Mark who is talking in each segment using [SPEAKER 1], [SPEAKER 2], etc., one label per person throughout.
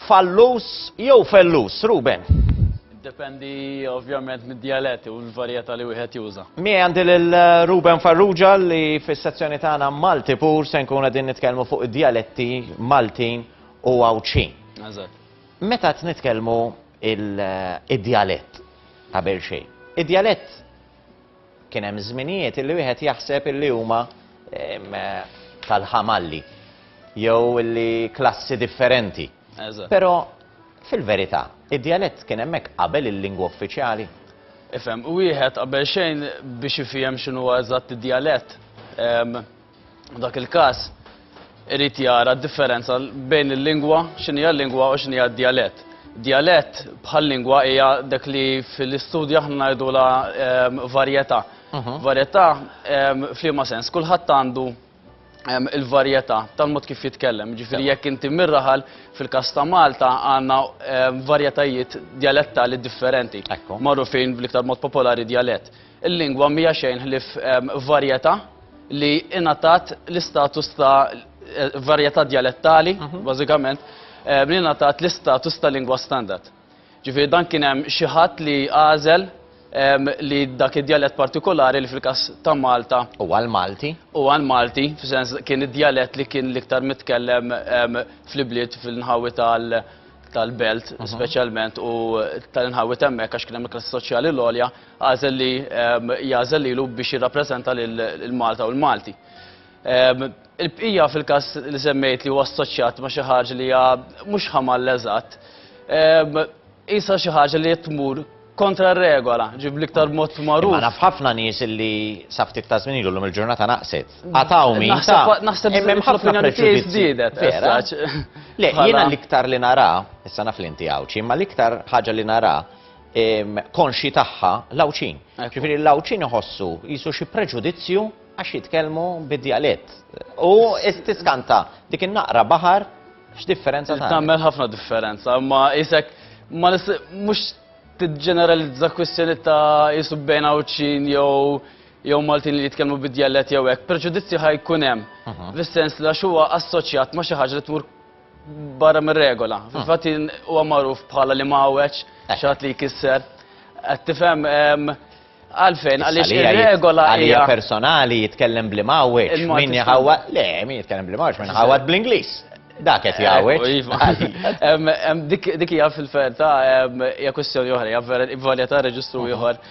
[SPEAKER 1] Fallus jew fellus, Ruben? Dependi
[SPEAKER 2] ovvjament mid-dialetti u l-varjetà li wieħed juża. Mi għandi lil
[SPEAKER 1] eh, Ruben Farrugia li fis-sezzjoni tagħna Malti pur se nkun qegħdin nitkellmu fuq id-dialetti Maltin u Għawdxin. Eżatt.
[SPEAKER 2] Meta qed
[SPEAKER 1] nitkellmu eh, id-dialett qabel xejn. Id-dialett Kien hemm żminijiet illi wieħed jaħseb illi huma tal-ħamalli jew illi klassi differenti. Però fil-verità, id-djalett kien hemmhekk qabel il-lingwa uffiċjali. Ifhem,
[SPEAKER 2] wieħed qabel xejn biex ifiehem x'inhuwa eżatt id-djalett, F'dak il-każ irid jara d-differenza bejn il-lingwa, x'inhija l-lingwa u x'inhija d-djalett. Djalett bħal lingwa hija dak li fl-istudju aħna ngħidulha ehm, varjetà. Mhm. Varjetà ehm, f'liema sens, kulħadd għandu ehm, il-varjetà tal-mod kif jitkellem. Ġifieri jekk inti mirraħal fil-każ ta' Malta għandna varjetajiet djalettali differenti. Magħrufin bl-iktar mod popolari djalett. Il-lingwa mhija xejn ħlief varjetà li ingħatat l-istatus ta' varjetà djalettali, mhm. bażikament, li ingħatat l-istatus ta' lingwa standard. Ġifieri dan kien hemm xi ħadd li għażel li dak id-djalett partikolari li fil-kas ta' Malta. U għal-Malti?
[SPEAKER 1] U għal-Malti,
[SPEAKER 2] f'sens kien id-djalett li kien l-iktar mitkellem fl-ibliet fil-nħawi tal- tal-belt, mhm. specialment, u tal-inħawi temmek, għax kien hemm il-klassi soċjali l-olja, għażel li jagħżel lilu biex jirrappreżenta lil Malta u l-Malti. Il-bqija fil-każ li semmejt li huwa assoċjat ma' xi ħaġa li hija mhux ħamall eżatt, isa xi ħaġa li tmur kontra r-regola, ġib l-iktar mod magħruf. Ma naf ħafna
[SPEAKER 1] nies li sa ftit ta' żmien ilu il-ġurnata naqset. Għataw min. Naħseb hemm ħafna
[SPEAKER 2] preġudizzji żdiedet.
[SPEAKER 1] Le, jiena l-iktar li nara, issa naf li inti għawċi, imma l-iktar ħaġa li nara konxji tagħha l-Għawdxin. Ġifieri l-Għawdxin iħossu jisu xi preġudizzju għax jitkellmu bid-dialett. U istiskanta dik in-naqra baħar x'differenza ta' Tagħmel ħafna differenza,
[SPEAKER 2] ma isek ma mhux tiġġeneralizza kwistjoni ta' jisu bejn Għawdxin jew jew Maltin li jitkellmu bid-dialett jew hekk. Preġudizzju ħajkun hemm. Mhm. Fis-sens li għax huwa assoċjat ma xi ħaġa li tmur barra mir-regola. Ah. Fil-fatt huwa magħruf bħala li mawweċ, eh. xatt li jkisser. Qed tifhem għalfejn għaliex ir-regola hija personali jitkellem
[SPEAKER 1] bli mawweċ, min jaħawa, le, min jitkellem bli mawweċ, min jaħawad bl-Ingliż. Dak qed jgħawweġ. Eh,
[SPEAKER 2] iva. Dik hija fil-ferta hija kwestjoni oħra, hija vera varjetà reġistru ah. ieħor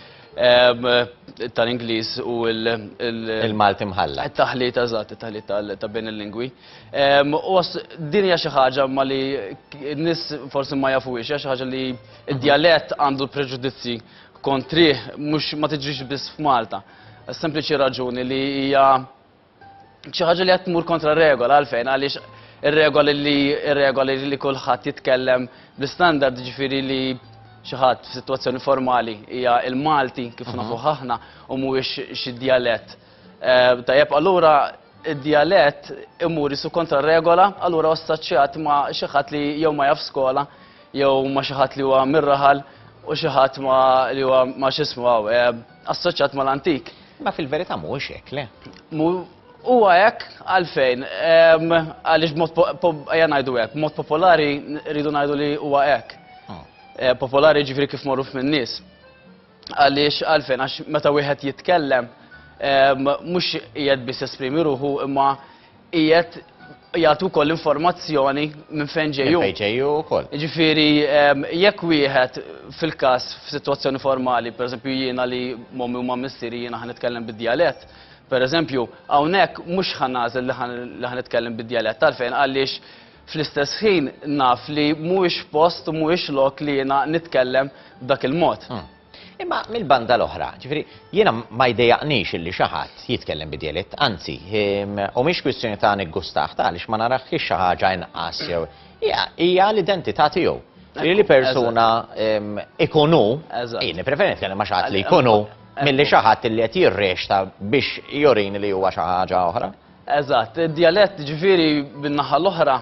[SPEAKER 2] tal-Ingliż u l-Malti
[SPEAKER 1] mħalla. Taħlit eżatt,
[SPEAKER 2] taħlit ta' bejn il-lingwi. Din hija xi ħaġa ma li n-nies forsi ma jafuhiex, hija xi ħaġa li d-djalett għandu l-preġudizzji kontrih mhux ma tiġrix biss f'Malta. Sempliċi raġuni li hija xi ħaġa li qed tmur kontra regola għalfejn għaliex ir-regoli li ir-regoli li kulħadd jitkellem bl-istandard ġifieri li xi ħadd f'sitwazzjoni formali hija il-Malti kif nafuh aħna u mhuwiex xi djalett Tajjeb, allura id-djalett imur isu kontra regola, allura ossaċċjat ma' xi ħadd li jew ma jaf skola, jew ma' xi ħadd li huwa mir-raħal u xi ħadd ma li huwa ma x'ismu hawn, assoċjat mal-antik. Imma fil-verità mhuwiex
[SPEAKER 1] hekk, le? Huwa
[SPEAKER 2] hekk għalfejn? Għaliex b'mod ejja ngħidu hekk, b'mod popolari rridu ngħidu li huwa hekk. Popolari jiġifieri kif magħruf min-nies. Għaliex għalfejn għax meta wieħed jitkellem mhux qiegħed biss esprimi ruħu imma qiegħed jagħtu wkoll informazzjoni minn fejn ġejju. Fejn ġejju wkoll.
[SPEAKER 1] Ġifieri
[SPEAKER 2] jekk wieħed fil-każ f'sitwazzjoni formali, pereżempju jiena li mommi u ma missieri jiena ħa nitkellem bid-djalett, pereżempju hawnhekk mhux ħa nagħżel li ħa nitkellem bid-djalett għalfejn għaliex Fl-istess ħin naf li mhuwiex post u mhuwiex lok li jiena nitkellem b'dak il-mod. Hmm. Imma
[SPEAKER 1] mill-banda l-oħra, ġifiri, jiena ma jdejaqnix illi xi ħadd jitkellem bi dialett, anzi, ehm, u mhix kwistjoni ta' niggustaħ ta' għaliex ma narax xi ħaġa inqas jew hija l-identità tiegħu. Li persuna ehm, ikunu, jien preferi nitkellem ma' xi ħadd li jkunu milli xi ħadd li qed jirrexta biex jorini li huwa xi ħaġa oħra. Eżatt,
[SPEAKER 2] id-djalett ġifieri bin-naħa l-oħra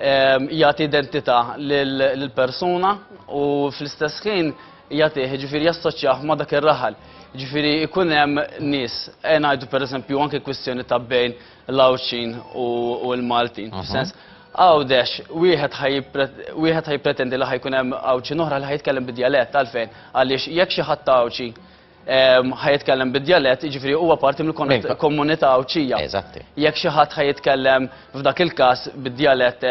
[SPEAKER 2] jagħti identità lill-persuna u fl-istess ħin jagħtih ġifieri jassoċjah ma' dak ir-raħal. Ġifieri jkun hemm nies, ejja ngħidu pereżempju anke kwistjoni ta' bejn l-Għawdxin u l-Maltin, f'sens Għawdex wieħed ħa wieħed ħa jippretendi li ħa jkun hemm Għawdxin oħra li ħa jitkellem bid-djalett għalfejn? Għaliex jekk xi ħadd Għawdxi ħa jitkellem bid-djalett, jiġifieri huwa parti mill-komunità Għawdxija. Eżatti. Jekk xi ħadd
[SPEAKER 1] ħa
[SPEAKER 2] jitkellem f'dak il-każ bid-djalett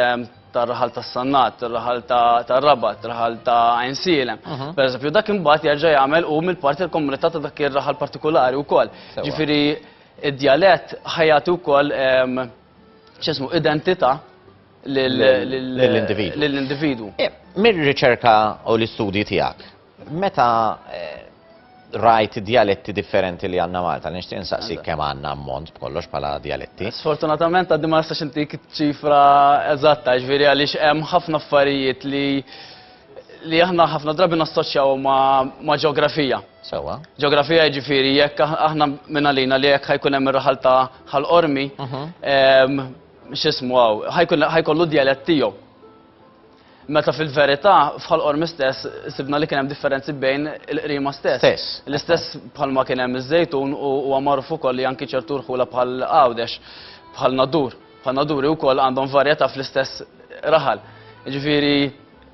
[SPEAKER 2] tar-raħal tas-Sannat, tar-raħal tar-Rabat, raħal ta' Għajnsielem, pereżempju, dak imbagħad jerġa' jagħmel hu mill-parti tal-komunità ta' dak ir-raħal partikulari wkoll. Jiġifieri d-djalett ħa jagħti wkoll x'ismu identità lill-individwu. Mir-riċerka
[SPEAKER 1] u l-istudji tiegħek, Meta eh, rajt dialetti differenti li għanna Malta, nishtiq nsaqsi kemm għanna ammont b'kollox bħala dialetti. Sfortunatament għaddi ma
[SPEAKER 2] nistax intik ċifra eżatta, ġviri għaliex hemm ħafna affarijiet li li aħna ħafna drabi nassoċjaw ma' ġeografija. Sewa. Ġeografija
[SPEAKER 1] ġifiri,
[SPEAKER 2] jekk aħna minn għalina li jekk ħajkun hemm ir-raħal ta' ħal-qormi, mhm. x'ismu għaw, ħajkollu dialett tiegħu. Meta fil-verità, f'Ħal Qormi stess, sibna li kien hemm differenzi bejn il-qrima stess. Stess. L-istess bħalma kien hemm iż-Żejtun u huwa magħruf ukoll li anki ċertu rħula bħal Għawdex, bħal Nadur, bħal Naduri wkoll għandhom varjetà fl-istess raħal. Jiġifieri,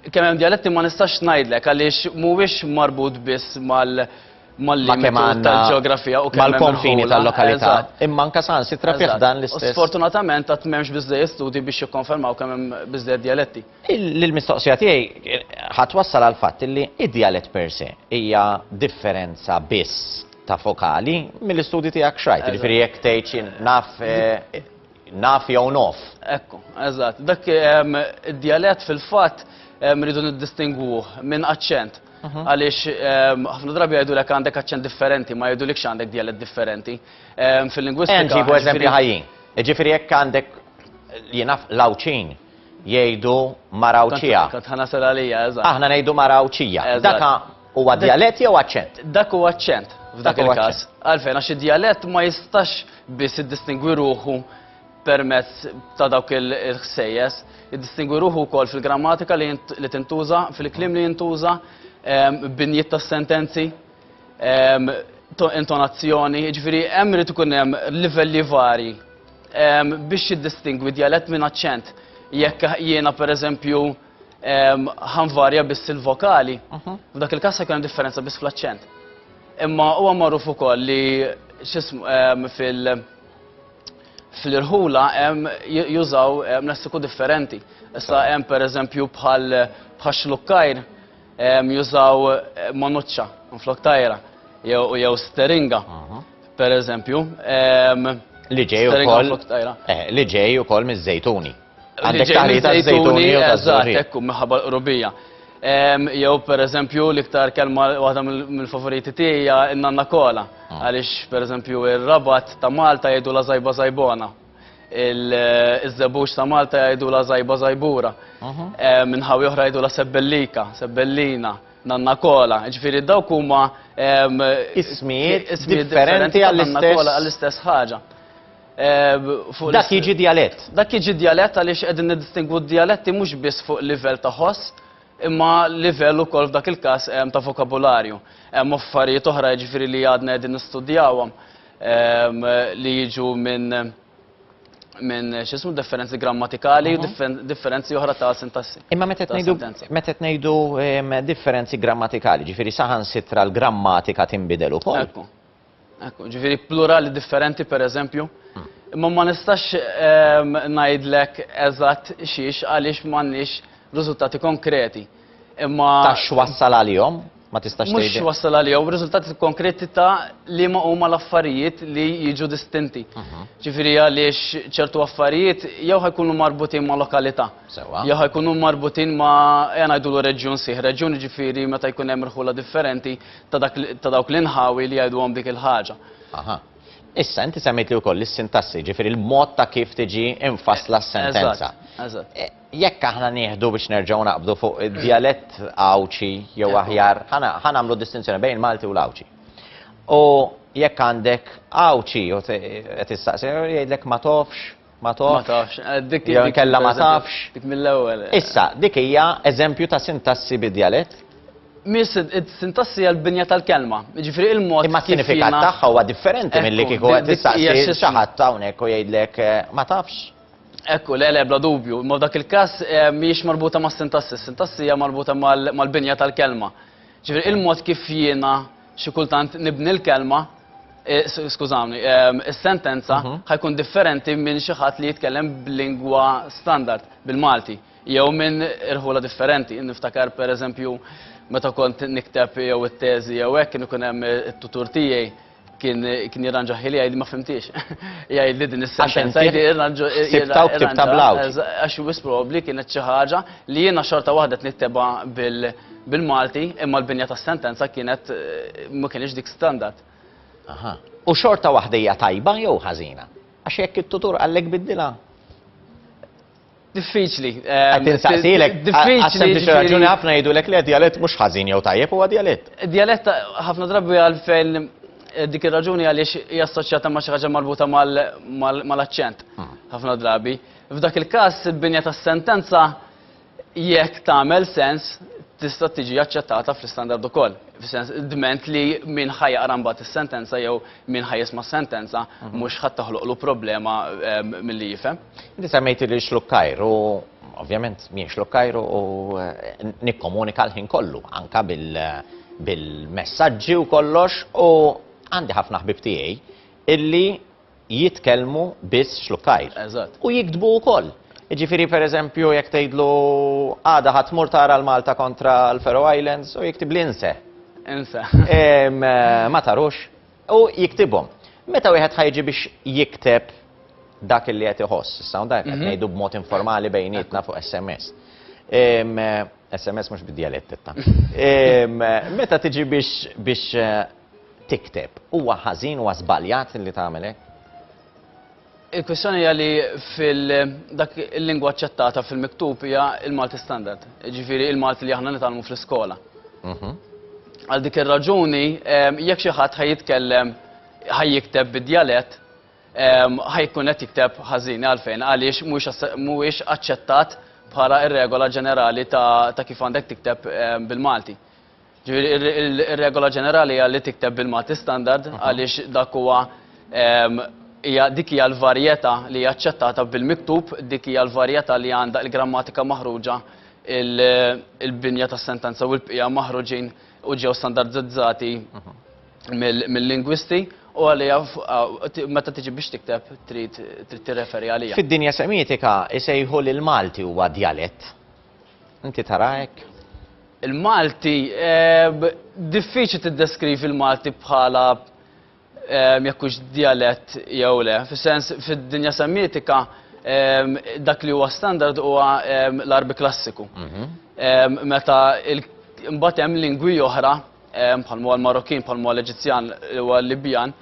[SPEAKER 2] kemm hemm djaletti ma nistax ngħidlek għaliex mhuwiex marbut biss mal- mal-limitu tal-ġeografija u mal-konfini tal-lokalità.
[SPEAKER 1] Imma anke saħansitra fih dan l-istess. Sfortunatament għad m'hemmx
[SPEAKER 2] biżżejjed studji biex jikkonfermaw kemm hemm biżżejjed djaletti. L-mistoqsija
[SPEAKER 1] tiegħi ħadd wassal għal fatt li d-djalett per se hija differenza biss ta' fokali mill-istudji tiegħek xrajt. Jiġifieri jekk tgħid naf naf jew nof. Ekku, eżatt.
[SPEAKER 2] Dak id-djalett fil-fatt rridu niddistingwuh minn aċċent. Mhm. Għaliex ehm, ħafna drabi jgħidu lek għandek aċċent differenti, ma jgħidu likx għandek dialet differenti. Ehm, fil-lingwistika. Ġibu eżempju
[SPEAKER 1] ħajjin. Ġifiri jekk għandek jenaf lawċin jgħidu marawċija. Ħana sal għalija,
[SPEAKER 2] eżatt. Aħna ngħidu marawċija.
[SPEAKER 1] Daka huwa dialet jew aċċent? Dak huwa aċċent
[SPEAKER 2] f'dak il-każ. Għalfejn għax id-dialet ma jistax biss iddistingwi ruħu permezz ta' dawk il-ħsejjes, jiddistingwi ruħu wkoll fil-grammatika li tintuża, fil-kliem li jintuża, ehm, binjiet tas-sentenzi, ehm, intonazzjoni, ġifieri hemm irid ikun hemm livelli vari ehm, biex jiddistingwi djalett minn aċċent. Jekk jiena pereżempju ħanvarja biss il-vokali, mhm. f'dak il-każ jkun hemm differenza biss fl-aċċent. Imma huwa magħruf ukoll li x'ismu fil- fl-irħula jużaw lessiku differenti. Issa hemm pereżempju bħal bħal xlukkajr jużaw monuċċa flok tajra jew steringa pereżempju.
[SPEAKER 1] Li ġej ukoll eh, li ġej ukoll miż-żejtuni. Għandek taħli ta' zejtuni u ta' zari. Ekku, minħabba l-qrubija.
[SPEAKER 2] Jew per eżempju l-iktar kelma waħda mill-favoriti tiegħi n-nanna kola. Ah. Għaliex per eżempju ir-rabat ta' Malta jgħidu la zajba zajbona. Il-żebux ta' Malta jgħidu la zajba zajbura. Minħawi oħra jgħidu la sebbellika, sebbellina, nanna kola. Ġifieri dawk huma
[SPEAKER 1] ismijiet differenti għall-istess
[SPEAKER 2] ħaġa.
[SPEAKER 1] fuq Dak jiġi djalett. Dak jiġi djalett
[SPEAKER 2] għaliex qegħdin niddistingwu d-djaletti mhux biss fuq livell ta' ħoss, imma livell ukoll f'dak il-każ ta' vokabularju. Hemm affarijiet oħra jiġifieri li għadna qegħdin nistudjawhom li jiġu minn minn x'ismu differenzi grammatikali u differenzi oħra ta' sintassi. Imma meta qed ngħidu
[SPEAKER 1] meta qed ngħidu differenzi grammatikali, ġifieri saħansitra l-grammatika tinbidel ukoll. Ekku,
[SPEAKER 2] ġifieri plurali differenti pereżempju. Imma ma nistax ehm, ngħidlek eżatt xiex għaliex m'għandniex riżultati konkreti. Imma Ta' x'wassal
[SPEAKER 1] għalihom? Ma tistax mhux tgħidli. wassal għalihom riżultati
[SPEAKER 2] konkreti ta' li ma huma l-affarijiet li jiġu distinti. Mhm. Ġifieri għaliex ċertu affarijiet jew ħajkunu marbutin ma' lokalità. Sewwa. Jew ħajkunu marbutin ma' ejja ngħidulu reġjun sieħ. Reġjun ġifieri meta jkun hemm irħula differenti ta' dawk l-inħawi li jgħiduhom dik il-ħaġa. Aha. Issa,
[SPEAKER 1] inti semmejt li wkoll is-sintassi, ġifieri l-mod ta' kif tiġi infassla s-sentenza. Eżatt. E, jekk aħna nieħdu biex nerġgħu naqbdu fuq id-djalett Għawdxi jew aħjar, ħa nagħmlu distinzjoni bejn il-Malti u l-Għawdxi. U jekk għandek Għawdxi, qed issaqsi, jgħidlek ma tofx Ma tafx. Jew inkella ma tafx. Dik mill-ewwel.
[SPEAKER 2] Issa, dik hija
[SPEAKER 1] eżempju ta' sintassi bi djalett? Mhix
[SPEAKER 2] sintassi hija l-binja tal-kelma. Jiġifieri l-mod kif jiena. Imma s-sinifikat tagħha
[SPEAKER 1] huwa differenti milli kieku qed tistaqsi xi ħadd hawnhekk u jgħidlek ma tafx. Ekku,
[SPEAKER 2] le le, bla dubju. Imma f'dak il-każ mhijiex marbuta mas-sintassi. Is-sintassi hija marbuta mal-binja tal-kelma. Ġifieri l-mod kif jiena. xi kultant nibni l-kelma, skużawni, is-sentenza mhm. ħa jkun differenti minn xi ħadd li jitkellem b'lingwa standard bil-Malti jew minn irħula differenti. Niftakar pereżempju meta kont nikteb jew it-teżi jew hekk kien ikun hemm it-tutur tiegħi kien kien jirranġa ħili jgħid ma fimtiex. Jgħid li din is-sentenza jgħid jirranġa. Sibta u ktibta bl
[SPEAKER 1] Għax wis probabbli
[SPEAKER 2] kienet xi ħaġa li jiena xorta waħda niktebha bil- bil-Malti imma l-binja tas-sentenza kienet ma kienx dik standard. Aha.
[SPEAKER 1] U xorta waħda hija tajba jew ħażina? Għax jekk it-tutur qallek biddilha
[SPEAKER 2] Diffiċli. Ehm, Tinsaqsilek,
[SPEAKER 1] diffiċli. Biex raġuni ħafna jgħidu lek le dialett mhux ħażin jew tajjeb huwa dialett. Dialett ħafna
[SPEAKER 2] drabi għal fejn eh, dik ir-raġuni għaliex hija assoċjata ma' xi ħaġa marbuta mal-aċċent. Hmm. Ħafna drabi. F'dak il-każ il-binja tas-sentenza jekk tagħmel sens, tista' tiġi aċċettata fl-istandard ukoll. Fis-sens dment li min ħa jaqra mbagħad is-sentenza jew min ħa jisma' s-sentenza mhm. mhux ħadd toħloqlu problema ehm, milli jifhem. Inti semmejti li
[SPEAKER 1] xlukkajr u ovvjament min xlukkajr u eh, nikkomunika l-ħin kollu anka bil-messaġġi u kollox u għandi ħafna ħbib tiegħi illi jitkellmu biss xlukkajr. Eżatt. U jiktbu
[SPEAKER 2] wkoll.
[SPEAKER 1] Jiġifieri pereżempju jekk tgħidlu għada ħa tmur tara l-Malta kontra l-Faroe Islands u jiktibli inse. Inse. Ma tarux. U jiktibhom. Meta wieħed ħa jiġi biex jikteb dak li qed iħoss, issa hawn dan qed ngħidu b'mod informali bejnietna fuq SMS. SMS mhux bid-djalett itta. Meta tiġi biex tikteb. Huwa ħażin, huwa żbaljat li tagħmel hekk?
[SPEAKER 2] Il-kwistjoni hija li fil-dak il-lingwa aċċettata fil-miktub hija il-Malti standard, ġifiri il-Malti li aħna nitalmu fl-iskola. Mhm. Għal dik ir-raġuni, ehm, jekk xi ħadd ħaj jitkellem ħaj jikteb bid-djalett, ehm, ħaj jkun qed jikteb ħażin għalfejn għaliex mhuwiex aċċettat bħala ir-regola ġenerali ta' kif għandek tikteb ehm, bil-Malti. Ġifieri ir-regola ġenerali hija li tikteb bil-Malti Standard għaliex dak huwa ehm, hija dik hija l-varjetà li hija aċċettata bil-miktub, dik hija l-varjetà li għandha l-grammatika maħruġa il-binja tas-sentenza u l-bqija maħruġin u ġew standardizzati mill-lingwisti u għalija meta tiġi biex tikteb trid tirreferi għalija. Fid-dinja semietika
[SPEAKER 1] isejħu li l-Malti huwa djalett. Inti tara hekk? Il-Malti,
[SPEAKER 2] eh, diffiċli tiddeskrivi l-Malti bħala eh, jekkux dialett jew le. Fis-sens, fid-dinja semmitika, eh, dak li huwa standard huwa l-arbi klassiku. Mhm. Meta mbagħad hemm lingwi oħra, bħal huwa l-Marokkin, bħal huwa l-Eġizzjan, huwa l-Libjan,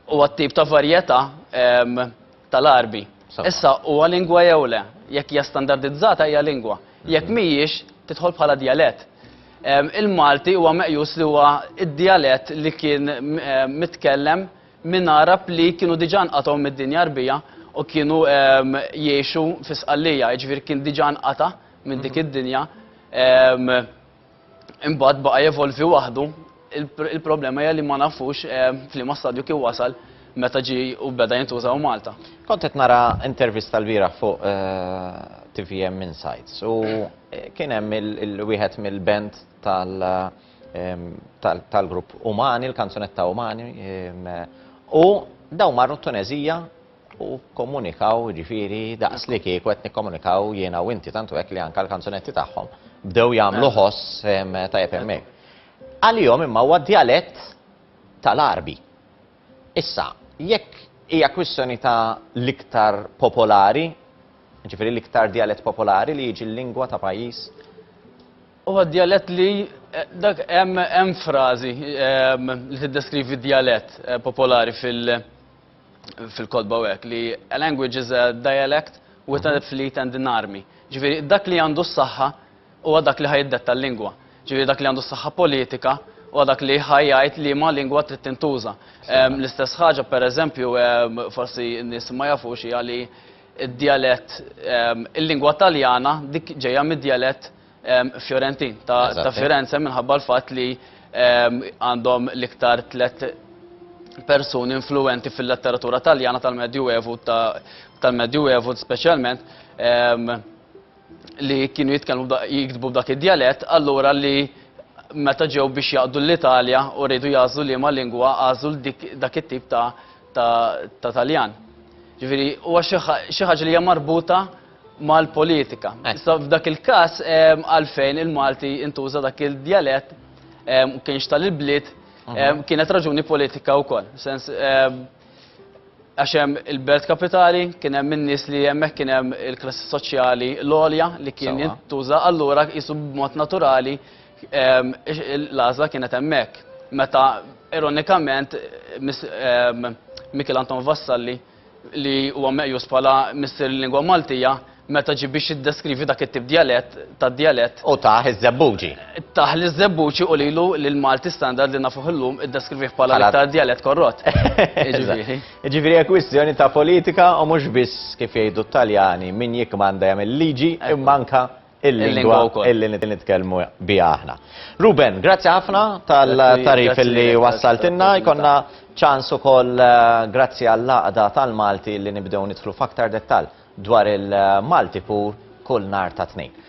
[SPEAKER 2] huwa t-tip ta' varjetà tal-Għarbi. Issa, huwa lingwa jew le? Jekk hija standardizzata hija lingwa. Jekk mhijiex, tidħol bħala djalett. Il-Malti huwa meqjus li huwa d-djalett li kien mitkellem minn Għarab li kienu diġà nqatgħu mid-dinja Għarbija u kienu jgħixu fi Sqallija, jiġifieri kien diġà nqata' minn dik id-dinja. imbagħad baqa' jevolvi waħdu, il-problema hija li ma nafux eh, f'liema stadju kien wasal meta ġi u beda jintuża u Malta. Kont qed nara
[SPEAKER 1] intervista l-bieraħ fuq eh, TVM Insights u eh, kien hemm il-wieħed mill-band tal- ehm, tal-grupp Umani, il-kanzunetta Umani, ehm, u daw marru t-Tunezija u kkomunikaw jiġifieri daqs li kieku qed nikkomunikaw jiena u inti tantu hekk li anke l-kanzunetti tagħhom bdew jagħmlu ħoss tajjeb hemmhekk. Għalihom imma huwa djalett tal-Għarbi. Issa, jekk hija kwistjoni ta' l-iktar popolari, jiġifieri l-iktar djalett popolari li jiġi l-lingwa ta' pajjiż,
[SPEAKER 2] Huwa djalett li dak hemm frażi li tiddeskrivi djalett popolari fil- fil-kotba u hekk li a language is a dialect with a fleet and an army. Ġifieri dak li għandu s-saħħa huwa dak li ħajiddetta l-lingwa. Ġifieri dak li għandu s-saħħa politika u dak li ħajjajt li ma lingwa trid tintuża. L-istess ħaġa per eżempju, forsi n-nies ma jafux hija li d-djalett, il-lingwa taljana dik ġejja mid-djalett Fiorentin ta' Firenze minħabba l-fatt li għandhom l-iktar tlet persuni influenti fil-letteratura taljana tal-Medju Evu tal-Medju Evu speċjalment li kienu jitkellmu jiktbu b'dak id-djalett, allura li meta ġew biex jaqdu l-Italja u rridu jażlu liema lingwa għażlu dak it-tip ta' Taljan. Ġifieri huwa xi ħaġa li hija marbuta mal-politika. Issa f'dak il-każ għalfejn il-Malti intuża dak il-djalett u kienx tal-bliet kienet raġuni politika wkoll. Sens għax hemm il-belt kapitali, kien hemm in-nies li hemmhekk kien hemm il-klassi soċjali l-għolja li kien jintuża allura qisu b'mod naturali l-għażla kienet hemmhekk. Meta ironikament Mikil Anton Vassalli li huwa meqjus bħala missier il-lingwa Maltija, meta ġie biex jiddeskrivi dak it-tip djalett, ta' djalett. U tah
[SPEAKER 1] iż-Żebbuġi. Tah liż-Żebbuġi
[SPEAKER 2] u lilu l-Malti standard li nafuh illum iddeskrivih bħala l-iktar djalett korrott. Jiġifieri.
[SPEAKER 1] Jiġifieri hija kwistjoni ta' politika u mhux biss kif jgħidu t-Taljani, min jikkmanda jagħmel il-liġi imma anke il-lingwa illi nitkellmu biha aħna. Ruben, grazzi ħafna tal-tarif illi wassaltinna, jkonna ċans ukoll eh, grazzi għall-laqda tal-Malti li nibdew nidħlu f'aktar dettal dwar il-Malti pur kull nar ta' tnejn.